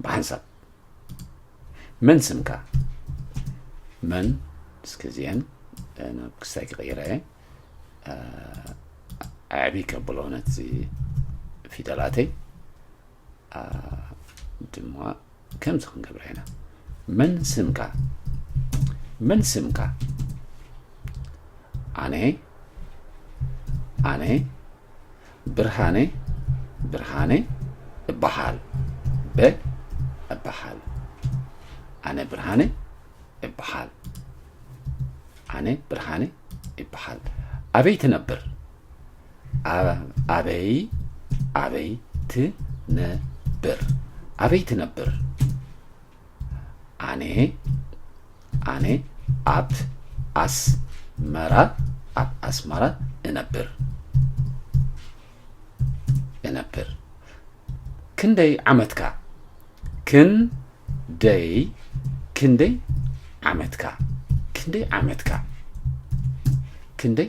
ብሓንሳብ መን ስምካ መን እስኪ እዚአን ናብ ክስታይ ክቕይረ እየ ኣዕቢ ከብሎ ነቲ ፊደላተይ ድማ ከምዚ ክንገብረ ኢና መን ስምካ መን ስምካ ኣነ ኣነ ብርሃነ ብርሃነ እበሃል በ እበሃል ኣነ ብርሃነ እበሃል ኣነ ብርሃነ እበሃል ኣበይ ትነብር ኣበይ ኣበይ ትነብር ኣበይ ትነብር ኣነ ኣነ ኣት ኣስመራ ኣብ ኣስመራ እነብር እነብር ክንደይ ዓመትካ ክንደይ ክንደይ ዓመትካ ክንደይ ዓመትካ ክንደይ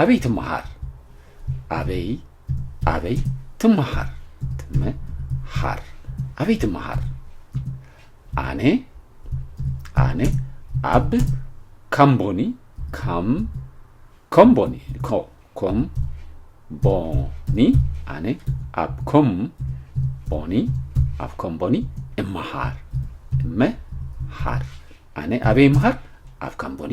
ኣበይ ትመሃር ኣበይ ኣበይ ትመሃር ትመሃር ኣበይ ትመሃር ኣነ ኣነ ኣብ ካምቦኒ ካም ኮምቦኒ ኮም ቦኒ ኣነ ኣብ ኮም ቦኒ ኣብ ኮም ቦኒ እመሃር እመሃር ኣነ ኣበይ እምሃር ኣብ ካምቦኒ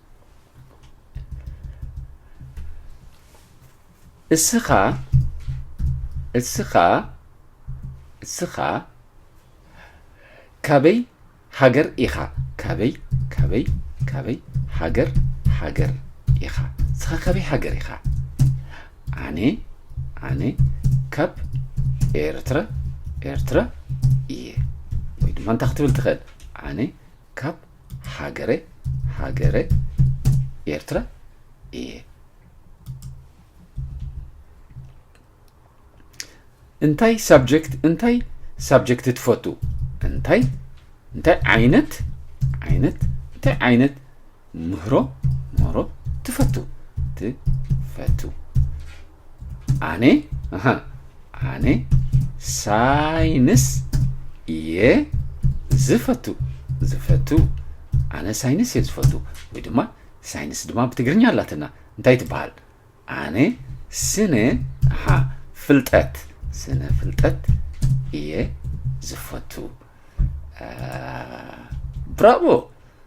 እስኻ እስኻ እስኻ ካበይ ሃገር ኢኻ ካበይ ካበይ ካበይ ሃገር ሃገር ኢኻ እስኻ ካበይ ሃገር ኢኻ ኣነ ኣነ ካብ ኤርትራ ኤርትራ እየ ወይ ድማ እንታይ ክትብል ትኽእል ኣነ ካብ ሃገረ ሃገረ ኤርትራ እየ። እንታይ ሳብጀክት እንታይ ሳብጀክት ትፈቱ እንታይ እንታይ ዓይነት ዓይነት እንታይ ዓይነት ምህሮ ምህሮ ትፈቱ ትፈቱ ኣነ ኣነ ሳይንስ እየ ዝፈቱ ዝፈቱ ኣነ ሳይንስ እየ ዝፈቱ ወይ ድማ ሳይንስ ድማ ብትግርኛ ኣላትና እንታይ ትበሃል ኣነ ስነ ሓ ፍልጠት ስነ ፍልጠት እየ ዝፈቱ ብራቮ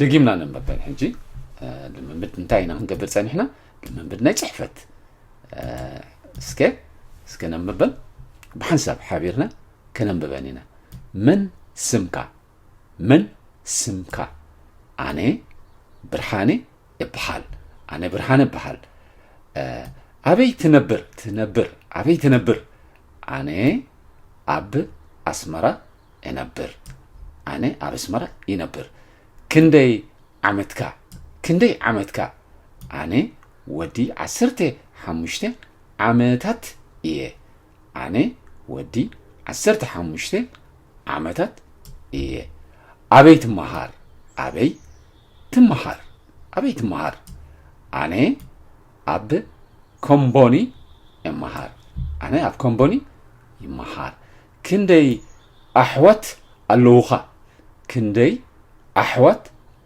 ደጊምና ነንበበን ሕጂ ልምምድ እንታይ ኢና ክንገብር ጸኒሕና ልምምድ ናይ ጽሕፈት እስከ እስከ ነንብበን ብሓንሳብ ሓቢርና ከነንብበን ኢና መን ስምካ መን ስምካ ኣነ ብርሃነ እብሃል ኣነ ብርሃነ እብሃል ኣበይ ትነብር ትነብር ኣበይ ትነብር ኣነ ኣብ ኣስመራ እነብር ኣነ ኣብ ኣስመራ ይነብር ክንደይ ዓመትካ ክንደይ ዓመትካ ኣነ ወዲ ዓሰርተ ሓሙሽተ ዓመታት እየ ኣነ ወዲ ዓሰርተ ሓሙሽተ ዓመታት እየ ኣበይ ትመሃር ኣበይ ትመሃር ኣበይ ትመሃር ኣነ ኣብ ኮምቦኒ እመሃር ኣነ ኣብ ኮምቦኒ ይመሃር ክንደይ ኣሕዋት ኣለዉኻ ክንደይ ኣሕዋት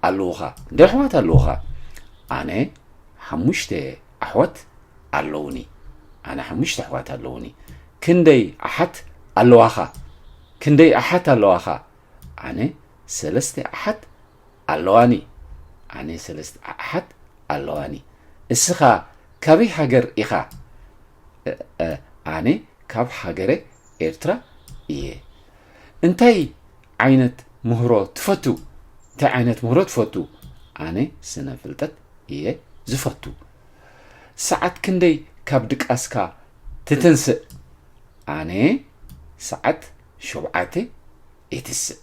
ኣለዉኻ ክንደይ ኣሕዋት ኣለዉኻ ኣነ ሓሙሽተ ኣሕዋት ኣለዉኒ ኣነ ሓሙሽተ ኣሕዋት ኣለዉኒ ክንደይ ኣሓት ኣለዋኻ ክንደይ ኣሓት ኣለዋኻ ኣነ ሰለስተ ኣሓት ኣለዋኒ ኣነ ሰለስተ ኣሓት ኣለዋኒ እስኻ ካበይ ሃገር ኢኻ እእ ኣነ ካብ ሃገረ ኤርትራ እየ እንታይ ዓይነት ምህሮ ትፈቱ እንታይ ዓይነት ምህሮ ትፈቱ ኣነ ስነ ፍልጠት እየ ዝፈቱ ሰዓት ክንደይ ካብ ድቃስካ ትትንስእ ኣነ ሰዓት ሸውዓተ የትስእ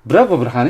ብራቮ ብርሃነ